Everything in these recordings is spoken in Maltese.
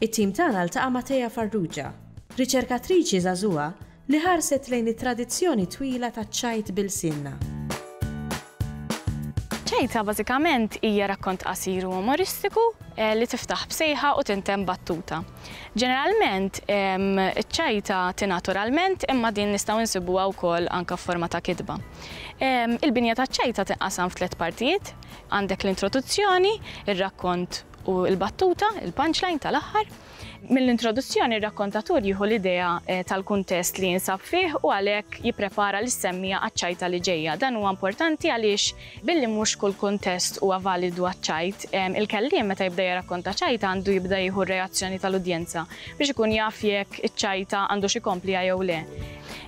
It-tim tagħna ltaqa' ma' Thea Farrugia, riċerkatriċi żagħżugħa li ħarset lejn it-tradizzjoni twila taċ-ċajt b'ilsienna. Ċajta bażikament hija rakkont qasir u umoristiku li tiftaħ b'sejħa u tintemm battuta. Ġeneralment, iċ-ċajta tingħad oralment imma din nistgħu nsibuha wkoll anke f'forma ta' kitba. Il-binja taċ-ċajta tinqasam f'tliet partijiet, għandek l-introduzzjoni, ir-rakkont U l-battuta, il-punchline tal-aħħar? Mill-introduzzjoni r-rakkontatur jieħu l-idea tal-kuntest li jinsab fih u għalhekk jipprepara lis-semmiegħa għaċ-ċajta li ġejja. Dan huwa importanti għaliex billi mhux kull kuntest huwa validu għaċ-ċajt, il-kelliem meta jibda jirrakkonta ċajta għandu jibda jieħu r-reazzjoni tal-udjenza biex ikun jaf jekk iċ-ċajta għandux ikompliha jew le.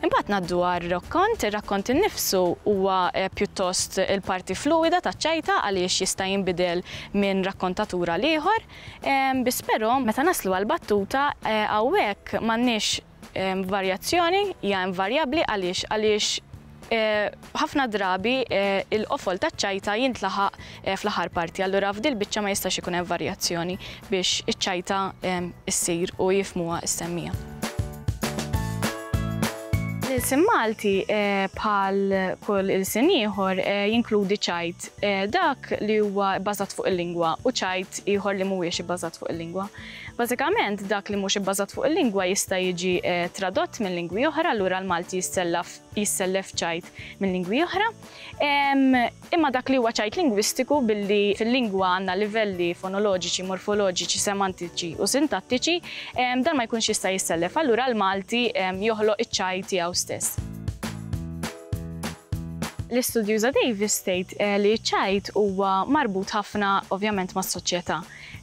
Imbagħad ngħaddu għar-rakkont. Ir-rakkont innifsu huwa pjuttost il-parti fluwida taċ-ċajta għaliex jista' jinbidel minn rakkontatur għal ieħor biss però meta naslu għall-battuta hawnhekk m'għandniex varjazzjoni, hija invarjabbli għaliex għaliex Ħafna drabi l-qofol taċ-ċajta jintlaħaq fl-aħħar parti, allura f'dil biċċa ma jistax ikun hemm varjazzjoni biex iċ-ċajta ssir u jifhmuha s-semmija. L-ilsien Malti eh, bħal kull ilsien ieħor eh, jinkludi ċajt eh, dak li huwa bbażat fuq il-lingwa u ċajt ieħor li mhuwiex ibbażat fuq il-lingwa. Bażikament dak li mhux ibbażat fuq il-lingwa jista' jiġi tradott minn lingwi oħra lura l-Malti jissellaf jissellef ċajt minn lingwi oħra, imma dak li huwa ċajt lingwistiku billi fil-lingwa għandna livelli fonoloġiċi, morfoloġiċi, semantiċi u sintattiċi, dan ma jkunx jista' jissellef. Allura l-Malti joħloq iċ-ċajt tiegħu stess. L-istudjuża Davis tgħid li ċ-ċajt huwa marbut ħafna ovvjament mas-soċjetà.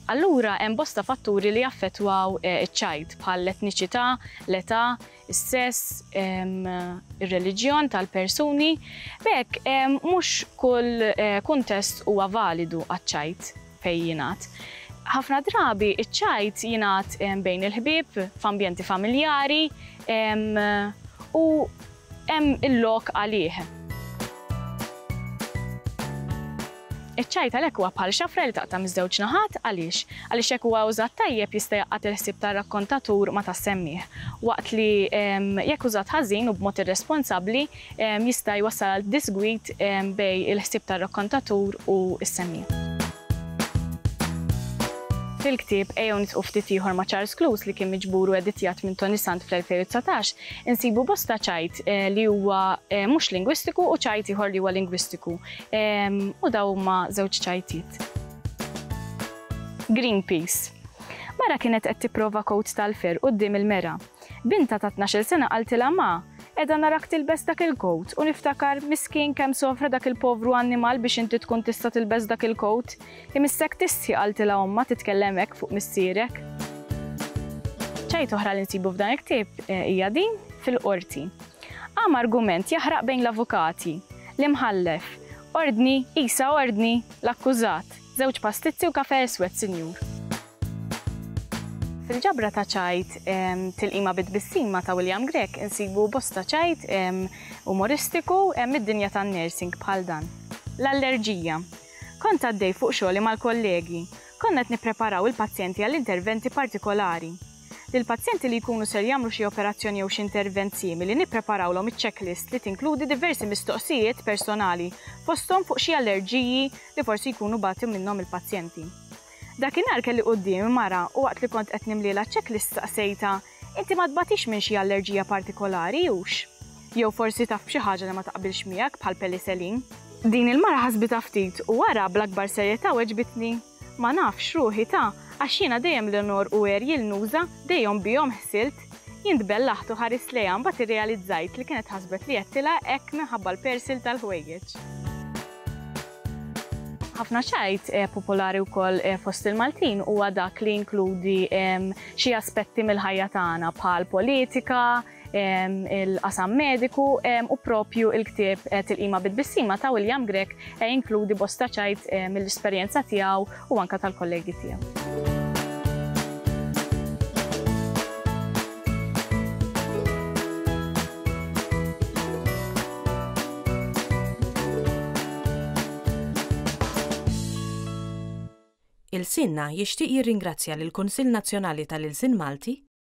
Allura hemm bosta fatturi li jaffettwaw iċ-ċajt bħal l-etniċità, l-età, is-sess, ir-reliġjon tal-persuni, b'hekk mhux kull kuntest huwa validu għaċ-ċajt fejn jingħad. Ħafna drabi ċ-ċajt jingħad bejn il-ħbieb, f'ambjenti familjari u hemm il-lok għalih. Iċ-ċajt għalhekk huwa bħal xafra li taqta' miż-żewġ naħat. Għaliex? Għaliex jekk huwa użat tajjeb jista' jgħaqqad il-ħsieb tar-rakkontatur ma' tas-semmiegħ, waqt li jekk użat ħażin u b'mod irresponsabbli jista' jwassal għal disgwid bejn il-ħsieb tar-rakkontatur u s-semmiegħ. Fil-ktieb Ejjew Nitqu Ftit Ieħor ma' Charles Cluse li kien miġbur u editjat minn Tony Sant fl-2019, insibu bosta ċajt li huwa mhux lingwistiku u ċajt ieħor li huwa lingwistiku U daw huma żewġ ċajtiet. Greenpeace. Mara kienet qed tipprova kowt tal-fer quddiem il-mera. Bintha ta' tnax-il sena qaltilha ma, qiegħda narak tilbes dak il-kowt u niftakar miskien kemm sofra dak il-povru annimal biex inti tkun tista' tilbes dak il-kowt. Imissek tistħi qaltilha ommha titkellem hekk fuq missierek. Ċajt oħra li nsibu f'dan il-ktieb hija din, fil-qorti. Qam argument jaħraq bejn l-avukati, l-Imħallef, Ordni, qisha ordni, l-akkużat, żewġ pastizzi u kafè eswed, sinjur. Fil-ġabra ta' ċajt Tilqima bi Tbissim ma' ta' William Grech insibu bosta ċajt umoristiku mid-dinja tan-nursing bħal dan. L-allerġija. Kont għaddej fuq xogħli mal-kollegi. Konna qed nippreparaw il-pazjenti għal interventi partikolari. Lill-pazjenti li jkunu ser jagħmlu xi operazzjoni jew xi intervent simili nippreparawlhom iċ-checklist li tinkludi diversi mistoqsijiet personali fosthom fuq xi allerġiji li forsi jkunu bagħtu minnhom il-pazjenti. Dakinhar kelli quddiemi mara u waqt li kont qed nimlielha ċ-checklist staqsejtha, Inti ma tbagħtix minn xi allerġija partikolari, hux? Jew forsi taf b'xi ħaġa li ma taqbilx miegħek bħall-peliselin? Din il-mara ħasbitha ftit u wara bl-akbar serjetà weġbitni, Ma nafx ruħi ta' għax jiena dejjem l-onor u għerji l-nuża dejjhom bihom ħsilt. Jien tbellaħt u ħarist lejha mbagħad irrealizzajt li kienet ħasbet li għedtilha hekk minħabba l-persil tal-ħwejjeġ. Ħafna ċajt popolari wkoll fost il-Maltin huwa dak li jinkludi xi aspetti mill-ħajja tagħna bħal politika, il-qasam mediku u propju il-ktieb eh, Tilqima bit-bissima ta' William Grek eh, inkludi bosta ċajt eh, mill-esperjenza tiegħu u anka tal-kollegi tiegħu. Il-Sinna jixtieq jirringrazzja lill-Kunsill Nazzjonali tal-Ilsien Malti